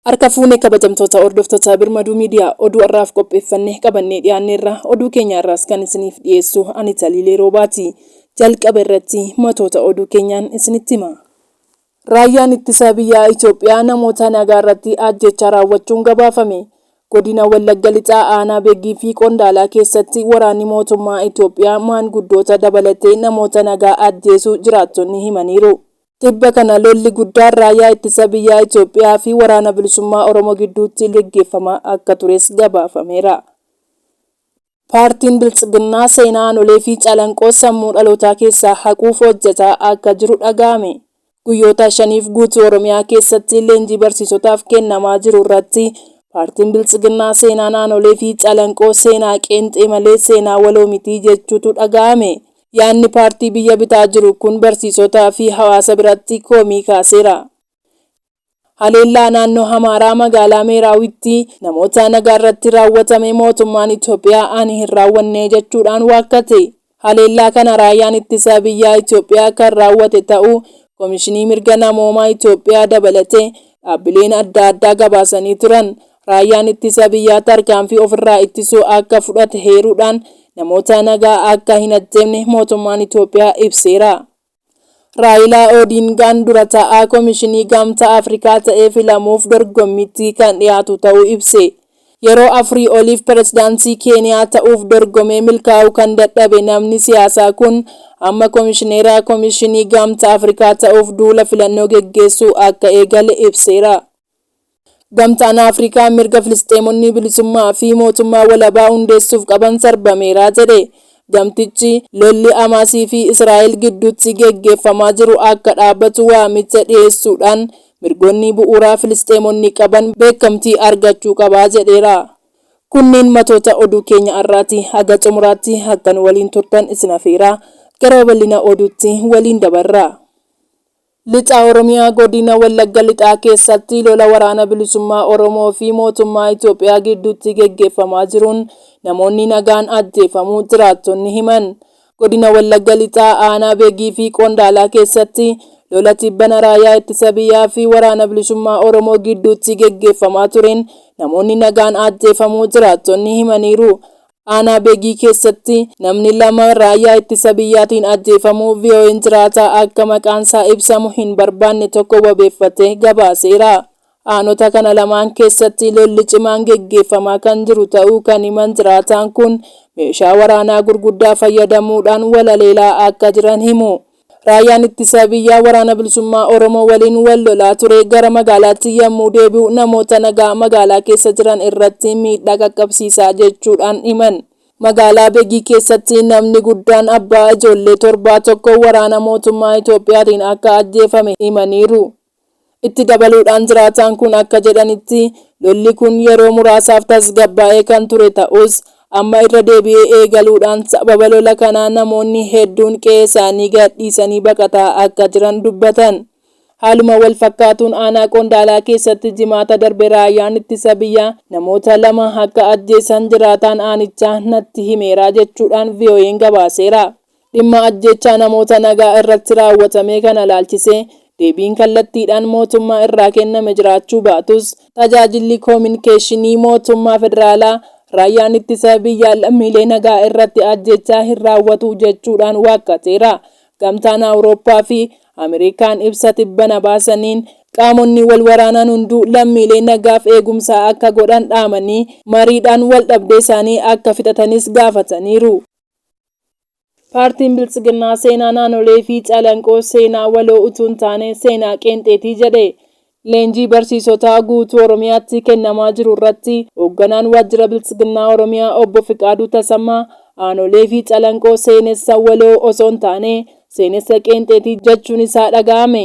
Harka fuune kabajamtoota hordoftoota Birmaduu Miidiyaa oduu har'aaf qopheeffannee qabannee dhiyaanneerra oduu keenya irraas kan isiniif dhiyeessu ani Taliilee Roobaati. Jalqaba irratti matoota oduu keenyaan isinitti hima. Raayyaan Ittisa Biyyaa Itoophiyaa namoota nagaarratti ajjeechaa raawwachuun gabaafame. Godina Wallagga Lixaa Aanaa Beggii fi Qondaalaa keessatti waraanni mootummaa Itoophiyaa maanguddoota dabalatee namoota nagaa ajjeesuu jiraattonni himaniiru. Tibba kana lolli guddaan Raayyaa Ittisa Biyyaa Itoophiyaa fi Waraana Bilisummaa Oromoo gidduutti geggeeffamaa akka tures gabaafameera. Paartiin Biltsiginnaa seenaa aanolee fi calanqoo sammuu dhalootaa keessaa haquuf hojjetaa akka jiru dhaga'ame. Guyyoota shaniif guutuu Oromiyaa keessatti leenjii barsiisotaaf kennamaa jiru irratti Paartiin Biltsiginnaa seenaan aanolee fi calanqoo seenaa qeenxee malee seenaa waloo miti jechuutu dhaga'ame. Yaadni paartii biyya bitaa jiru kun barsiisotaa fi hawaasa biratti komii kaaseera. Haleellaa naannoo Amaaraa magaalaa Meeraawitti namoota nagaarratti raawwatame mootummaan Itoophiyaa ani hin raawwanne jechuudhaan waakkate. Haleellaa kana Raayyaan Ittisa Biyyaa Itoophiyaa kan raawwate ta'uu Komishinii Mirga Namoomaa Itoophiyaa dabalatee dhaabbileen adda addaa gabaasanii turan. Raayyaan Ittisa Biyyaa tarkaanfii ofirraa ittisuu akka fudhate heeruudhaan namoota nagaa akka hin ajjeefne mootummaan Itoophiyaa ibseera. Raayilaa Oodiingaan dura taa'aa Komishinii Gamtaa Afrikaa ta'ee filamuuf dorgommiitti kan dhiyaatu ta'uu ibse. Yeroo afurii oliif pirezidaantii Keeniyaa ta'uuf dorgomee milkaa'uu kan dadhabe namni siyaasaa kun amma komishineera Komishinii Gamtaa Afrikaa ta'uuf duula filannoo geggeessuu akka eegale ibseera. Gamtaan Afrikaa mirga Filisxeemonni bilisummaa fi mootummaa walabaa hundeessuuf qaban sarbameera jedhe. Gamtichi, lolli Hamaasii fi Israa'el gidduutti geggeeffamaa jiru akka dhaabatu waamicha dhiyeessuudhaan, mirgoonni bu'uuraa Filisxeemonni qaban beekamtii argachuu qaba jedheera. Kunniin matoota oduu keenya har'aati. Haga xumuraatti akka nu waliin turtan isin afeeraa. Gara babal'ina oduutti waliin dabarra. Lixa Oromiyaa Godina Wallagga Lixaa keessatti lola Waraana Bilisummaa Oromoo fi Mootummaa Itoophiyaa gidduutti geggeeffamaa jiruun namoonni nagaan ajjeefamuu jiraattonni himan. Godina Wallagga Lixaa Aanaa Begii fi Qondaalaa keessatti lola tibbana Raayyaa Ittisa Biyyaa fi Waraana Bilisummaa Oromoo gidduutti geggeeffamaa tureen namoonni nagaan ajjeefamuu jiraattonni himaniiru. Aanaa Begii keessatti namni lama raayyaa ittisa biyyaatiin ajjeefamuu VOAn jiraataa akka maqaansaa ibsamu hin barbaanne tokko wabeeffatee gabaaseera. Aanota kana lamaan keessatti lolli cimaan geggeeffamaa kan jiru ta'uu kan himan jiraataan kun, meeshaa waraanaa gurguddaa fayyadamuudhaan wal haleelaa akka jiran himu. Raayyaan Ittisa Biyyaa Waraana Bilisummaa Oromoo waliin wal lolaa ture gara magaalaatti yammuu deebi'u namoota nagaa magaalaa keessa jiran irratti miidhaa qaqqabsiisa jechuudhaan himan. Magaalaa Begii keessatti namni guddaan abbaa ijoollee torbaa tokko waraana mootummaa Itoophiyaatiin akka ajjeefame himaniiru. Itti dabaluudhaan jiraataan kun akka jedhanitti, lolli kun yeroo muraasaaf tasgabbaa'ee kan ture ta'us, amma irra deebi'ee eegaluudhaan sababa lola kanaa namoonni hedduun qe'ee isaanii gad dhiisanii baqataa akka jiran dubbatan. Haaluma wal fakkaatuun aanaa Qondaalaa keessatti Jimaata darbe raayyaan ittisa biyyaa namoota lama akka ajjeesan jiraataan aanichaa natti himeera jechuudhaan VOA'n gabaaseera. Dhimma ajjeechaa namoota nagaa irratti raawwatamee kana ilaalchisee deebiin kallattiidhaan mootummaa irraa kenname jiraachuu baatus, Tajaajilli Koominikeeshinii Mootummaa Federaalaa Raayyaan Ittisa Biyyaa lammiilee nagaa irratti ajjeechaa hin raawwatu jechuudhaan waakkateera. Gamtaan Awurooppaa fi Ameerikaan ibsa tibbana baasaniin, qaamonni wal waraanan hunduu lammiilee nagaaf eegumsa akka godhan dhaamanii, mariidhaan waldhabdee isaanii akka fixatanis gaafataniiru. Paartiin Biltsiginnaa seenaa naanolee fi calanqoo seenaa waloo utuu hin taane seenaa qeenxeeti jedhe. Leenjii barsiisotaa guutuu Oromiyaatti kennamaa jiru irratti Hoogganaan Waajjira Biltsiginnaa Oromiyaa Obbo Fiqaaduu Tasammaa aanolee fi calanqoo seenessa waloo osoo hin taane seenessa qeenxeeti jechuun isaa dhaga'ame.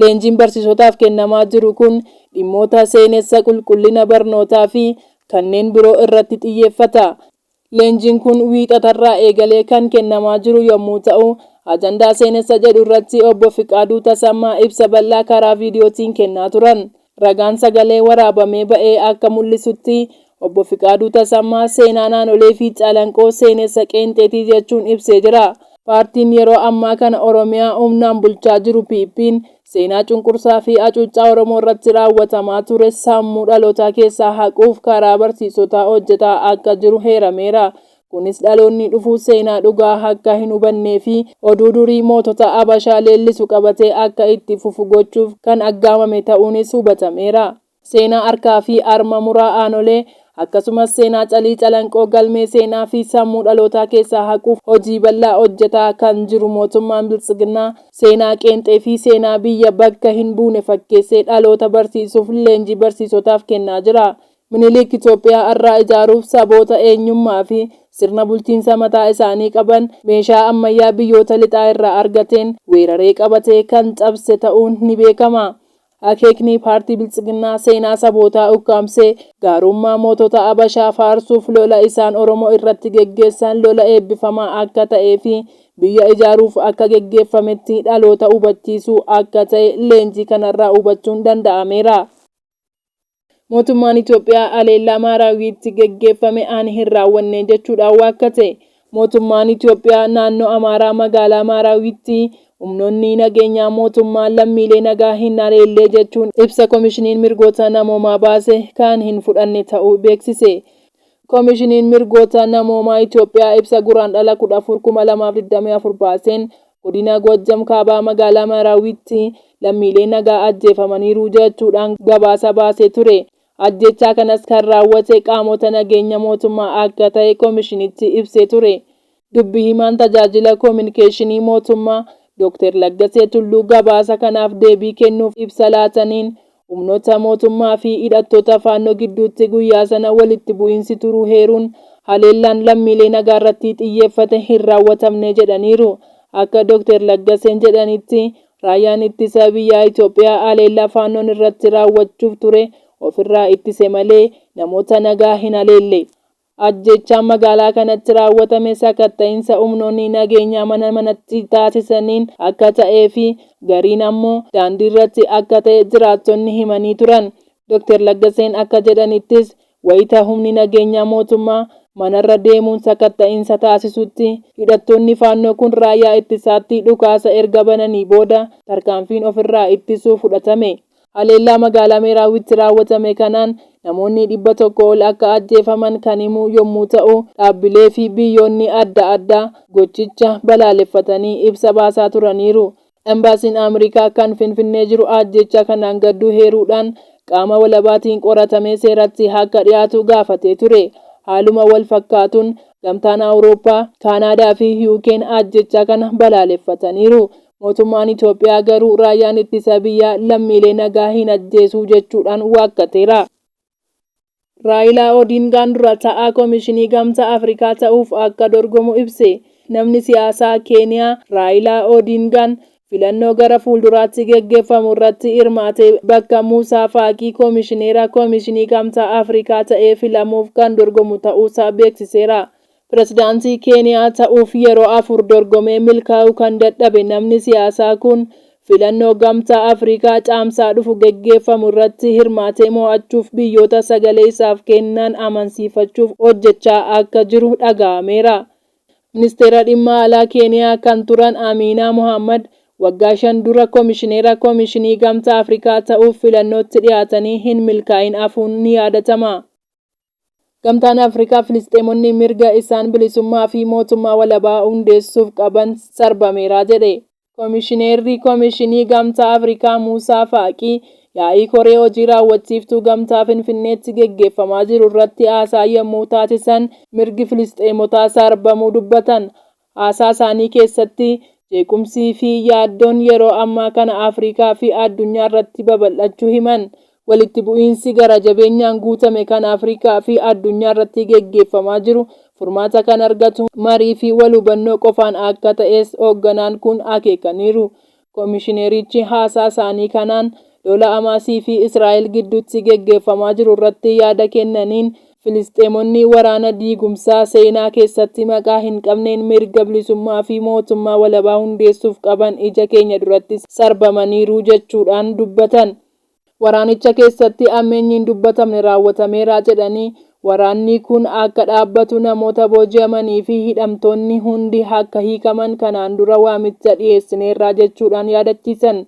Leenjiin barsiisotaaf kennamaa jiru kun dhimmoota seenessa, qulqullina barnootaa fi kanneen biroo irratti xiyyeeffata. Leenjiin kun Wiixatarraa eegalee kan kennamaa jiru yommuu ta'u, ajandaa seenessa jedhu irratti Obbo Fiqaaduu Tasammaa ibsa bal'aa karaa viidiyootiin kennaa turan. Ragaan sagalee waraabamee ba'e akka mul'isutti, Obbo Fiqaaduu Tasammaa seenaa naanolee fi Calanqoo seenessa qeenxeeti jechuun ibsee jira. Paartiin yeroo ammaa kana Oromiyaa humnaan bulchaa jiru PPn, seenaa cunqursaa fi acuuccaa Oromoo irratti raawwatamaa ture sammuu dhalootaa keessaa haquuf karaa barsiisotaa hojjetaa akka jiru heerameera. Kunis dhaloonni dhufu seenaa dhugaa akka hin hubannee fi oduu durii mootota Abashaa leellisu qabatee akka itti fufu gochuuf kan aggaamame ta'uunis hubatameera. Seenaa harkaa fi harma muraa aanolee, akkasumas seenaa calii calanqoo galmee seenaa fi sammuu dhalootaa keessaa haquuf hojii bal'aa hojjetaa kan jiru mootummaan Biltsiginnaa, seenaa qeenxee fi seenaa biyya bakka hin buune fakkeessee dhaloota barsiisuuf leenjii barsiisotaaf kennaa jira. Minilik Itoophiyaa har'aa ijaaruuf saboota eenyummaa fi sirna bulchiinsa mataa isaanii qaban meeshaa ammayyaa biyyoota lixaa irraa argateen weeraree qabatee kan cabse ta'uun ni beekama. Akeekni paartii Biltsiginnaa seenaa sabootaa ukkaamsee gaarummaa mootota Abashaa faarsuuf lola isaan Oromoo irratti geggeessan lola eebbifamaa akka ta'ee fi biyya ijaaruuf akka geggeeffametti dhaloota hubachiisuu akka ta'e leenjii kanarraa hubachuun danda'ameera. Mootummaan Itoophiyaa haleellaa Maaraawiitti geggeeffame ani hin raawwanne jechuudhaan waakkate. Mootummaan Itoophiyaa naannoo Amaaraa magaalaa Maaraawiitti humnoonni nageenyaa mootummaa lammiilee nagaa hin haleellee jechuun ibsa Komishiniin Mirgoota Namoomaa baase kan hin fudhanne ta'uu beeksise. Komishiniin Mirgoota Namoomaa Itiyoophiyaa ibsa Guraandhala 14,2024 baaseen Godina Goojjam Kaabaa Magaalaa Marawiitti lammiilee nagaa ajjeefamaniiru jechuudhaan gabaasa baasee ture. Ajjeechaa kanas kan raawwate qaamota nageenya mootummaa akka ta'e komishinichi ibsee ture. Dubbi himaan Tajaajila Kominikeeshinii Mootummaa Dooktar Laggasee Tulluu gabaasa kanaaf deebii kennuuf ibsa laataniin, humnoota mootummaa fi hidhattoota Faannoo gidduutti guyyaa sana walitti bu'iinsi turuu heeruun, haleellaan lammiilee nagaarratti xiyyeeffate hin raawwatamne jedhaniiru. Akka Dooktar Laggaseen jedhanitti, Raayyaan Ittisa Biyyaa Itoophiyaa haleellaa Faannoon irratti raawwachuuf ture ofirraa ittise malee namoota nagaa hin haleelle. Ajjeechaan magaalaa kanatti raawwatame sakatta'insa humnoonni nageenyaa mana manatti taasisaniin akka ta'ee fi gariin ammoo daandiirratti akka ta'e jiraattonni himanii turan. Doktar Laggaseen akka jedhanittis, wayita humni nageenyaa mootummaa manarra deemuun sakatta'insa taasisutti hidhattoonni Faannoo kun raayyaa ittisaatti dhukaasa erga bananii booda tarkaanfiin ofirraa ittisuu fudhatame. Haleellaa magaalaa Meeraawitti raawwatame kanaan namoonni dhibba tokko ol akka ajjeefaman kan himu yommuu ta'u, dhaabbilee fi biyyoonni adda addaa gochicha balaaleffatanii ibsa baasaa turaniiru. Embaasiin Aamrikaa kan Finfinnee jiru ajjeechaa kanaan gadduu heeruudhaan qaama walabaatiin qoratamee seeratti akka dhiyaatu gaafatee ture. Haaluma wal fakkaatuun, Gamtaan Awurooppaa, Kaanaadaa fi UK'n ajjeechaa kana balaaleffataniiru. Mootummaan Itoophiyaa garuu raayyaan ittisa biyyaa lammiilee nagaa hin ajjeesuu jechuudhaan waakkateera. Raayilaa Odiingaan dura ta'aa Komishinii Gamtaa Afrikaa ta'uuf akka dorgomu ibse. Namni siyaasaa Keeniyaa Raayilaa Odiingaan filannoo gara fuulduraatti geggeeffamu irratti hirmaatee bakka Muusaa Faaqii Komishineera Komishinii Gamtaa Afrikaa ta'ee filamuuf kan dorgomu ta'uusaa beeksiseera. Pirezidaantii Keeniyaa ta'uuf yeroo afur dorgomee milkaa'uu kan dadhabe namni siyaasaa kun, filannoo Gamtaa Afrikaa Caamsaa dhufu geggeeffamu irratti hirmaatee mo'achuuf biyyoota sagalee isaaf kennan amansiifachuuf hojjechaa akka jiru dhaga'ameera. Ministeera Dhimma Alaa Keeniyaa kan turan Amiinaa Mohaammad, waggaa shan dura komishineera Komishinii Gamtaa Afrikaa ta'uuf filannootti dhiyaatanii hin milkaa'in hafuun ni yaadatama. Gamtaan Afrikaa Filisxeemonni mirga isaan bilisummaa fi mootummaa walabaa hundeessuuf qaban sarbameera jedhe. Komishineerri Komishinii Gamtaa Afrikaa Muusaa Faaqii yaa'ii koree hojii raawwachiiftuu gamtaa Finfinneetti geggeeffamaa jiru irratti haasaa yommuu taasisan mirgi Filisxeemotaa sarbamuu dubbatan. Haasaa isaanii keessatti, jeequmsii fi yaaddoon yeroo ammaa kana Afrikaa fi addunyaa irratti babal'achuu himan. Walitti bu'iinsi gara jabeenyaan guutame kan Afrikaa fi addunyaa irratti geggeeffamaa jiru furmaata kan argatu marii fi wal hubannoo qofaan akka ta'es hoogganaan kun akeekaniiru. Komishinerichi haasaa isaanii kanaan lola Hamaasii fi Israa'el gidduutti geggeeffamaa jiru irratti yaada kennaniin, Filisxeemonni waraana diigumsaa seenaa keessatti maqaa hin qabneen mirga bilisummaa fi mootummaa walabaa hundeessuuf qaban ija keenya duratti sarbamaniiru jechuudhaan dubbatan. Waraanicha keessatti ammeenyi hin dubbatamne raawwatameera jedhanii, waraannii kun akka dhaabbatu, namoota booji'amanii fi hidhamtoonni hundi akka hiikaman kanaan dura waamicha dhiyeessineerra jechuudhaan yaadachiisan.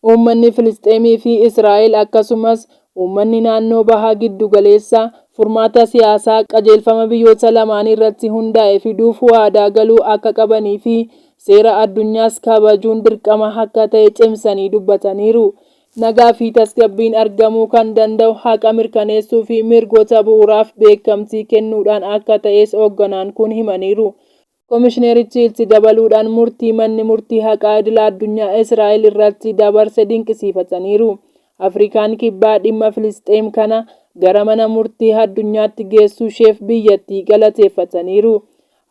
Uummanni Filisxeemii fi Israa'el akkasumas uummanni naannoo Baha Giddugaleessaa furmaata siyaasaa qajeelfama biyyoota lamaanii irratti hundaa'e fiduuf waadaa galuu akka qabanii fi seera addunyaas kabajuun dirqama akka ta'e cimsanii dubbataniiru. Nagaa fi tasgabbiin argamuu kan danda'u haqa mirkaneessuu fi mirgoota bu'uuraaf beekamtii kennuudhaan akka ta'es hogganaan kun himaniiru. Komishinerichi itti dabaluudhaan murtii manni murtii haqaa idila addunyaa Israa'el irratti dabarse dinqisiifataniiru. Afrikaan Kibbaa dhimma Filisxeem kana gara mana murtii addunyaatti geessuusheef biyyattii galateeffataniiru.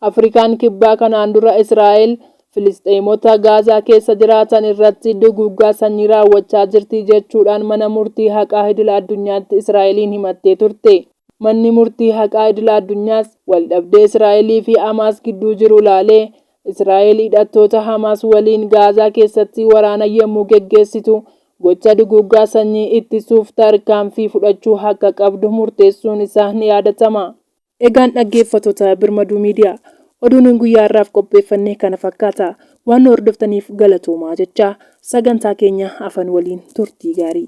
Afrikaan Kibbaa kanaan dura Israa'el Filisxeemota Gaazaa keessa jiraatan irratti duguuggaa sanyii raawwachaa jirti jechuudhaan Mana Murtii Haqaa Idila Addunyaatti Israa'eliin himattee turte. Manni Murtii Haqaa Idila Addunyaas waldhabdee Israa'elii fi Hamaas gidduu jiru ilaalee, Israa'el hidhattoota Hamaas waliin Gaazaa keessatti waraana yommuu geggeessitu gocha duguuggaa sanyii ittisuuf tarkaanfii fudhachuu akka qabdu murteessuun isaa ni yaadatama. Egaan dhaggeeffattoota Birmaduu Media, oduun guyyaa har'aaf qopheeffanne kana fakkaata. Waan nu hordoftaniif galatoomaa jechaa, sagantaa keenya afan waliin turtii gaarii.